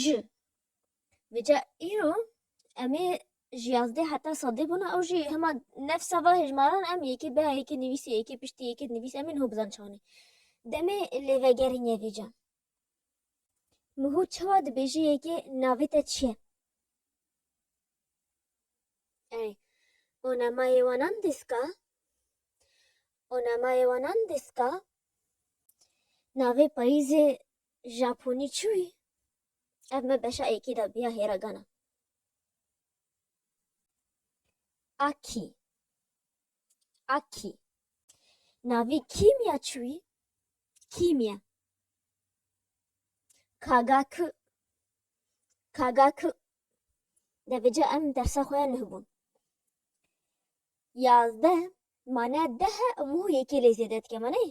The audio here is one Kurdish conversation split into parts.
ji vêca îro em ê ji yazdeh heta sedê bûna ew jî hema neft sava hejmaran em yekê bea yekê nivîsê yekê piştî yekê nivîs em ê niho bizan çawanê demê lê vegerîn ye vêca miho çawa dibêje yekê navê te çi ye yani onamayê wanan diska onamayê wanan diska navê payîzê Japonî çi wî? Ev me beşa yekê de bûya hêragana. Akî Akî Navî kîmya çi wî? Kîmya Kagaku Kagaku Devêce em dersa xwe ya nuh bûn. Yazdeh mane deh e û yekê lê zêde dike me neyê?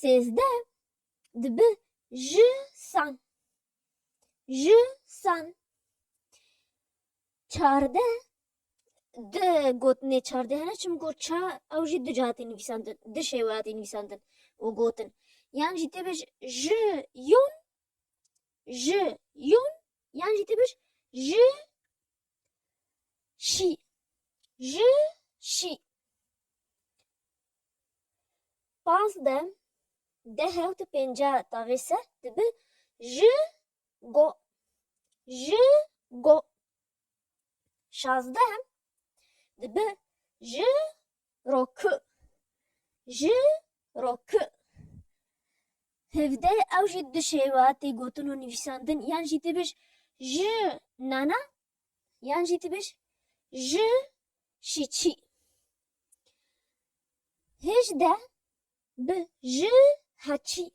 Sêzdeh dibe ji san. Ji san. Çardeh di gotinê çardehene çim got ça ew jî du caha tê nivîsandin, du şêweya tê nivîsandin û gotin. Yan jî tê bêj ji yon, ji yon yan jî tê bêj ji Şî. Ji şî. Pazdeh, deh hewt û pêncî taxî se dibe ji go. Ji go. Şazdeh dibe ji ro ku ji ro ku hevdeh ew jî du şêwa tê gotin û nivîsandin yan jî tu bêj ji nana yan jî tu bêj ji şî çî. Hêjdeh bi ji heçî.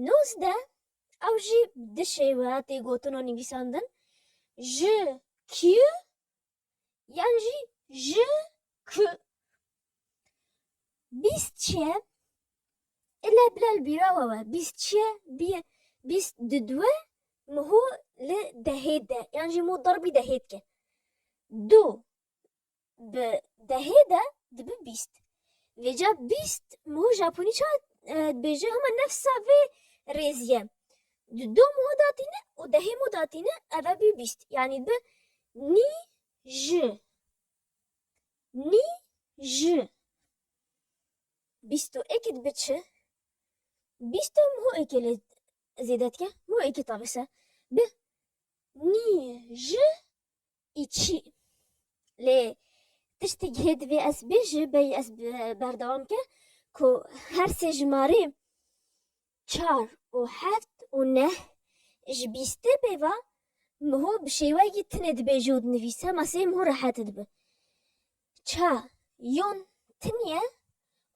Nozdeh ew jî du şêwa tê gotin û nivîsandin ji kî yan jî ji ku bîst çiye ile bila li bîra we we bîst çiye bîye bîst di dwe miho li dehê de yan jî mû derbî dehê dike du bi dehê de dibi bîst vêca bîst miho japonî ça dibêje hema nefsa vê rêziye Di do mû da tîne û dehê mû da tîne ev e bî bîst. Yanî bi nî ji nî ji bîst û êkî dibe çi? Bîst e mû êkê lê zêde dike. Mû êkê tabe se. Bi nî ji Î çi? Lê tiştê gihê divê ez bêjim, beyî ez berdewam bikim ku her sê jimarê çar û heft û neh ji bîstê pêva miho bi şêweyekî tinê dibêje û dinivîse ma sê miho rehet dibe. Ça yon tiniye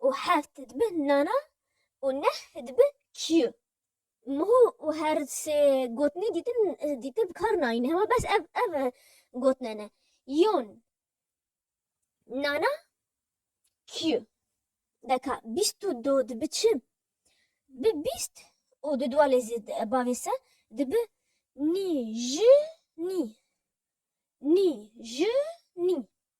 û heft dibe nana û neh dibe kiyu. Niha her sê gotinê dîtin dîtin bi kar nayîne hewa bes ev ev gotine ne yon Nana Q deka bîst û du dibi çi? Bi bîst û du dua lê zî bavê se dibi nî ji nî nî ji nî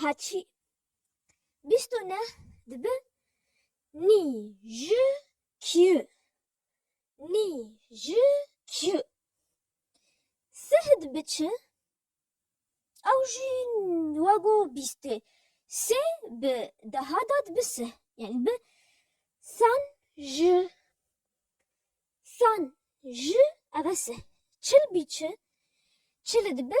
Haçî. Bîst û neh dibe nî ji kî. Nî ji kî. Sih dibe çi. Ew jî wego bîstê. Sê bi deha de dibe sih. Yanî dibe sen ji. Sen ji ev e sih. Çil bî çi. Çil dibe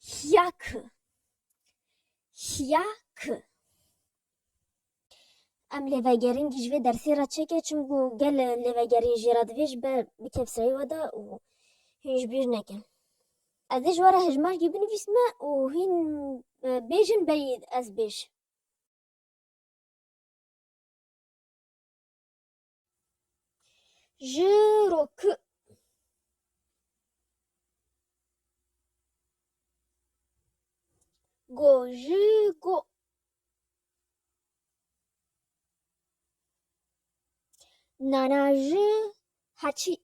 Hiya ki. Hiya ki. Em lêvegerîn jî ji vê dersê re çêke çimku gel lêvegerîn jê re divê ji ber bi kevserî wede û hîn ji bîr nekin. Ez dê ji we re hejmarkî binivîsme û hîn bêjin beyî ez bêj. Ji ro ku go ji go nana ji heçî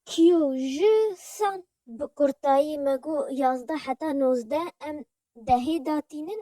kîyo ji san bi kurtayî me got yazdeh heta nozdeh em dehê datînin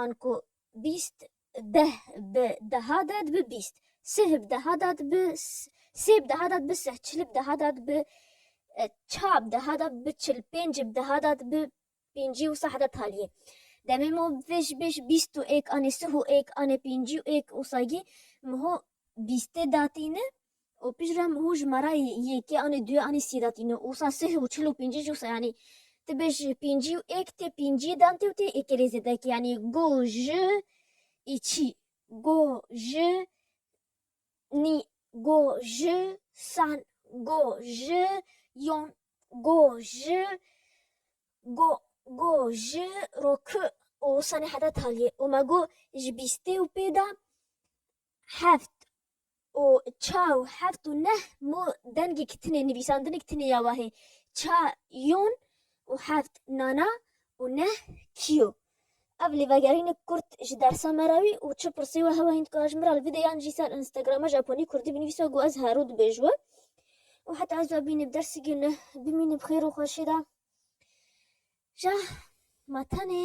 An ku bîst deh bi deha de dibe bîst, sih bi deha de dibe sih, sê bi deha de dibe sih, çil bi deha de dibe çar, bi deha de dibe çil, pênc bi deha de dibe pêncî wisa heta taliyê. Demê min got vê ji bêj bîst û êk anê sih û êk anê pêncî û êk wisa gî min ho bîstê datîne. û pişt re hû ji me re yekê anî duyê anî sî datî no ûsa sih û çil û pîncî jî wisa yanî ti bêj pîncî û êk tê pîncî dan tê û tê êkê rê zêdekê yanî go ji î çî go ji nî go ji san go ji yon go ji go go ji ro ki û wisa nê heta talî yê û me go ji bîstê û pê de heft û ça û heft û neh mo dengek tine nivîsandinek tine ya wahê ça yon û heft nana û neh kîyo. Ev lê vegerînek kurt ji dersa me re wî û çi pirsî we hewa hîn dika ji min re li vî de yan jî ser Instagrama Japonî Kurdî binivîsa ku ez hero dibêj we û heta ez bîne bi dersî ge neh bimîne bi xêr û xweşî de ja ma tenê